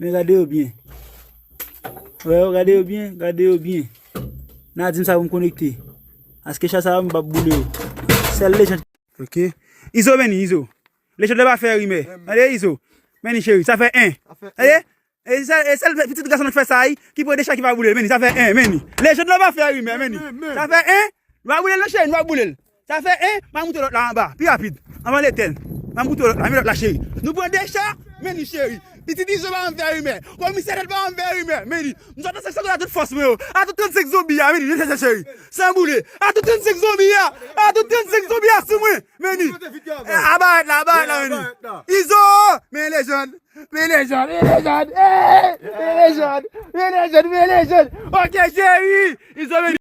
Men gade yo byen. Wè yo gade yo byen, gade yo byen. Na di m sa pou m konekte. Aske chat sa yo m pa boule yo. Sèl lejand. Ok. Izo meni, Izo. Lejand la pa fè rimè. Tande Izo. Meni cheri, sa fè 1. Tande? E sèl pitit gason nan fè sa a wi, ki pran 2 chat ki pa boule l. Meni, sa fè 1. Meni. Lejand la pa fè rimè, meni. Sa fè 1. Nou pa boule l non cheri, nou pa boule l. Sa fè 1, m'a moute lòt la anba, pi rapid, anvan l'Etèn. M'a moute lòt la, men lòt la cheri. Nou pran 2 cha, men li cheri. Pitit Izo ba m vè rimè. Komisè Nèt ba m vè rimè, men li. M sot nan seksyon 2 a tout fòs mwen yo. A tout 35 zonbi a, men li, men li cheri. San boule. A tout 35 zonbi a, a tout 35 zonbi a sou mwen, men li. A barèt la, a barèt la, men li. Izo! Men lejand, men lejand, men lejand, eey! Men lejand, men lejand, men lejand. Ok cheri! Izo, men li.